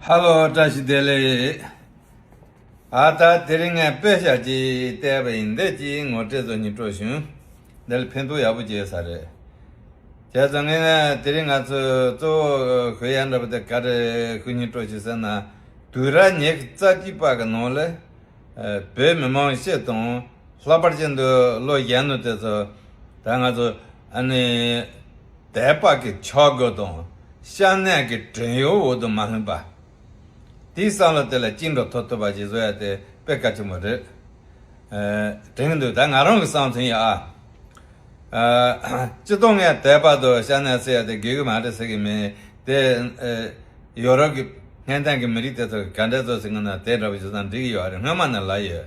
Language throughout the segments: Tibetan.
ཧ་ལོ་བཀྲ་ཤིས་བདེ་ལེགས། ཨ་ད་དེ་རིང་ངས་པད་ཤག་ཅིག་བལྟས་པ་ཡིན་འདས་ཀྱིས་ངོ་སྤྲད་ཚོ་གཉིས་སྤྲོ་བྱུང། འདི་ལ་ཕན་ཐོགས་ཡག་པོ་སྐྱེས་ས་རེད། བྱས་ཙང་ངས་དེ་རིང་ང་ཚོས་གཙོ་བོ་གོས་ཡག་འདྲ་པོ་དེ་ག་རེད་ཁོ་གཉིས་སྤྲོ་བྱུང་ཟེར་ན་དུས་ར་ཉེ་གི་རྩ་སྐྱིད་པ་གི་ནང་ལ་བོད་མི་མང་ཤས་དང་ལྷག་པར་ཅན་དུ་ལོ་གཞན་ནུ་དེ་ཚོ་ད་ང་ཚོ་ཨ་ནི། དད་པ་གི་ཕྱོགས་སྒོ་དང་ཤ་གནད་གི་བྲན་གཡོག་འོག་ཏུ་མ་ལྷུང་པ། དེའི་བསམ་བློ་དེ་ལ་བཅིངས་འགྲོ་ཐོབ་ཐུབ་པ་ཞིག་བཟོ་ཡ་དེ་དཔེ་གལ་ཆེན་པོ་རེད། དྲན་གྱི་འདུག་ད་ང་རང་གི་བསམ་ཚུལ་ཡིན་ཨ། སྤྱི་སྟོང་ངས་དད་པ་དང་ཤ་གནད་བསྲེས་ཡ་དེ་དགོས་གི་མ་རེད་ཟེར་གི་མིན། དེ་ཡོ་རོབ་གི་ཧན་ཐན་གི་མི་རིགས་དེ་ཚོ་ག་འདྲས་བཟོ་ཟིན་གི་ན་དེ་འདྲ་བ་བཟོ་ས་འགྲིག་གི་ཡོད་རེད་སྔོན་མ་ནས་ལབ་ཡོད།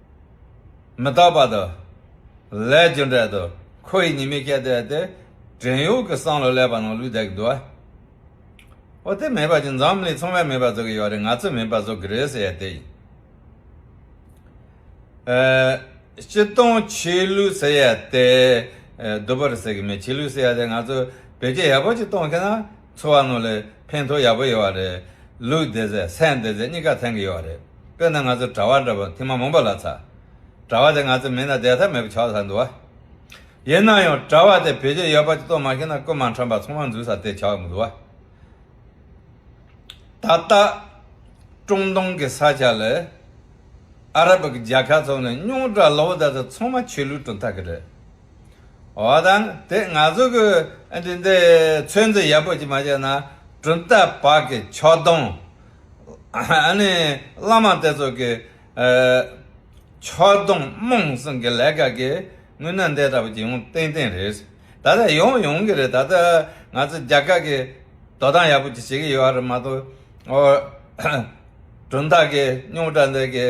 མི་རྟག་པ་དང། ལས་རྒྱུ་འབྲས་དང་ཁོ་ཡི་ཉེས་དམིགས་བསྐྱེད་བཟླས་ཏེ། བྲན་གཡོག་གི་སྲང་ལ་སླེབས་པ་ན་ལུས་འདེགས་དགོས། འོ་དེ་མེད་པ་ཅི་འཛམ་གླིང་ཚོང་བས་མེད་པ་བཟོ་གི་ཡོད་རེད་ང་ཚོས་མིན་པ་བཟོ་གི་རེད་ཟེར་ཡས་དེ་ཡིན། སྤྱི་སྟོང་ཆོས་ལུགས་ཟེར་ཡས་དེ་བསྡུ་བར་ཟེར་གི་མེད་ཆོས་ལུགས་ཟེར་ཡས་དེ་ང་ཚོས་བེད་སྤྱད་ཡག་པོ་ཅིག་གཏོང་མཁན་ན། འཚོ་བ་ནོར་ལས་ཕན་ཐོགས་ཡག་པོ་ཡོད་བ་རེད། ལུས་བདེ་ཚེ་སེམས་བདེ་ཚེ་གཉིས་ཀ་ཐེང་གི་ཡོད་བ་རེད། དཔེར་ན་ང་ཚོ་གྲྭ་བ་འདྲ་པོ་ཐིག་མ་མོན་པོ་ལ་ཚ། གྲྭ་བ་དེ་ང་ཚོ་མིན་ན་བསྡད་ཐབས་མེད་པོ་ཆགས་ཚར་འདུག་བ། ཡིན་ན་ཡང་གྲྭ་བ་དེ་བེད་སྤྱོད་ཡོད་པ་ཅིག་གཏོང་མ་ཤེས་ན་སྐུ་མ་འཁྲམ་པར་ཚོང་བ་འཛུལ་ས་དེ་ཆགས་གི་འདུག་བ། ད་ལྟ། ཀྲུང་ཏུང་གི་ས་ཆ་ལས། ཨ་རབ་ཀྱི་རྒྱལ་ཁ་ཚོགས་ནས་སྙུང་གྲགས་ལོ་བོ་དེ་ཚོ་ཚང་མ་ཆོས་ལུགས་གྲུབ་མཐའ་གི་རེད། བ་དང་དེ་ང་ཚོ་གི་འདི་འདི་ཚོད་འཛིན་ཡག་པོ་ཅིག་མ་བྱས་ན་གྲུབ་མཐའ་བར་གྱི་ཕྱོགས་སྡོམ་ནི་བླ་མ་དེ་ཚོ་གི་ཕྱོགས་སྡོམ་རྨོངས་སེམས་ཀྱི་ལས་ཀ་གི་དངུལ་ནང་འདེད་འདྲ་པོ་ཅིག་ཡོང་ཏན་ཏན་རེད། ད་ལྟ་ཡོང་ཡོང་གི་རེད་ད་ལྟ་ང་ཚོ་རྒྱ་གར་གྱི་དོ་དམ་ཡག་པོ་ཅིག་བྱེད་ཀྱི་ཡོད་པ་རེད་མ་གཏོགས་གྲུབ་མཐའ་གི་རྙོག་དྲ་འདི་གི་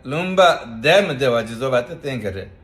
ལུང་པ་བསྡད་མི་བསྡད་པ་ཇི་བཟོ་བ་དེ་བསྟན་གི་རེད།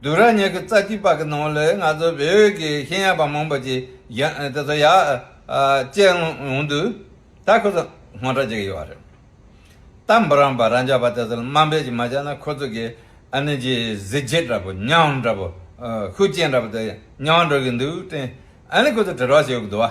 བདུན་རང་ཉིད་ཀྱི་རྩ་ཁྲིད་པ་གི་ནང་ལ་ང་ཚོ་བོད་ཀྱི་ཤེས་ཡོན་པ་མང་པོ་ཅིག་དེ་ཚོ་ཡར་བསྐྱལ་ཡོང་དུས་ད་ཁོ་ཚོ་ངོ་ཚ་བྱེད་ཀྱི་ཡོད་རེད། ད་འབུ་རམས་པ་རང་ཅག་པ་དེ་ཚོ་ལ་དམའ་འབེབས་ཅིག་མ་བྱས་ན་ཁོ་ཚོ་གི་ཨ་ནི་གྱི་གཟི་བརྗིད་འདྲ་པོ་ཉམས་འདྲ་པོ་ཤུགས་རྐྱེན་འདྲ་པོ་དེ་ཉམས་འགྲོ་གི་འདུག་དྲན་ཨ་ནི་ཁོ་ཚོ་དྲི་རོ་བྱེད་ཀྱི་འདུག་བ།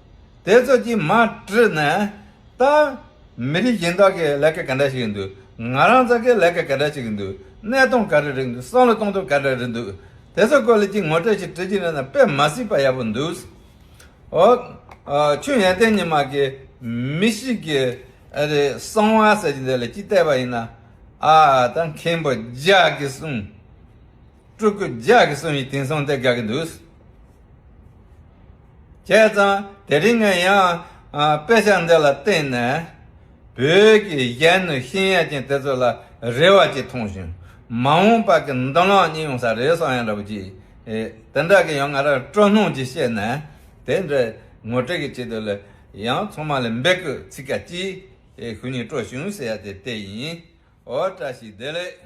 དེ་ཚོ་གྱིས་མ་བཀྲིས་ན་ད། མི་རིགས་གཞན་དག་གི་ལས་ཀ་ག་འདྲ་ཞིག་འདུག་ང་རང་ཚ་གི་ལས་ཀ་ག་འདྲ་ཞིག་འདུག་གནས་སྟངས་ག་རེ་རེད་འདུག་བསམ་བློ་གཏོང་ཐབས་ག་འདྲ་རེད་འདུག་དེ་ཚོ་སྐོར་ལ་གཅིག་ངོ་སྤྲོད་ཞིག་བྲི་རྒྱུ་ཡིན་ན་དཔེ་མ་སྲིད་པ་ཡག་པོ་འདུག། ཨོ། ཆུང་ཡན་ཏན་ཉི་མ་གིས་མི་ཞིག་གི་ཨ་རེ་གསང་བ་ཟེར་གྱི་འདི་ལ་གཅིག་བལྟས་པ་ཡིན་ན། ཨ་ད་མཁན་པོ་ཇག་གིས་གསུངས། སྤྲུལ་སྐུ་ལྗགས་ཀྱི་གསུང་ཡིག་དེང་སང་དེ་དགའ་གི་འདུག། བྱས་ཙང་དེ་རིང་ངས་ཡང་དཔེ་ཆ་འདི་ལ་བརྟེན་ནས། བོད་ཀྱི་གཞན་ནུས་ཤེས་ཡས་ཅན་དེ་ཚོ་ལ་རེ་བ་ཅིག་མཐོང་བྱུང། མ་འོངས་པ་ཀྱི་མདུན་ལམ་གཉིད་ཡོང་ས་རེད་བསམ་ཡང་རབ་ཀྱི། དེ་འདྲ་གི་ཡང་ང་རང་སྤྲོ་སྣང་ཅིག་བཤད་ནས་དེ་འདྲ་ངོ་སྤྲོད་ཀྱི་ཆེད་དུ་ལ་ཡང་ཚང་མ་ལ་འབད་སྐུལ་ཚིག་ཀ་གཅིག་ཞུ་ནས་སྤྲོ་བྱུང་ཟེར་ཡ་དེ་དེ་ཡིན། འོ་བཀྲ་ཤིས་བདེ་ལེགས།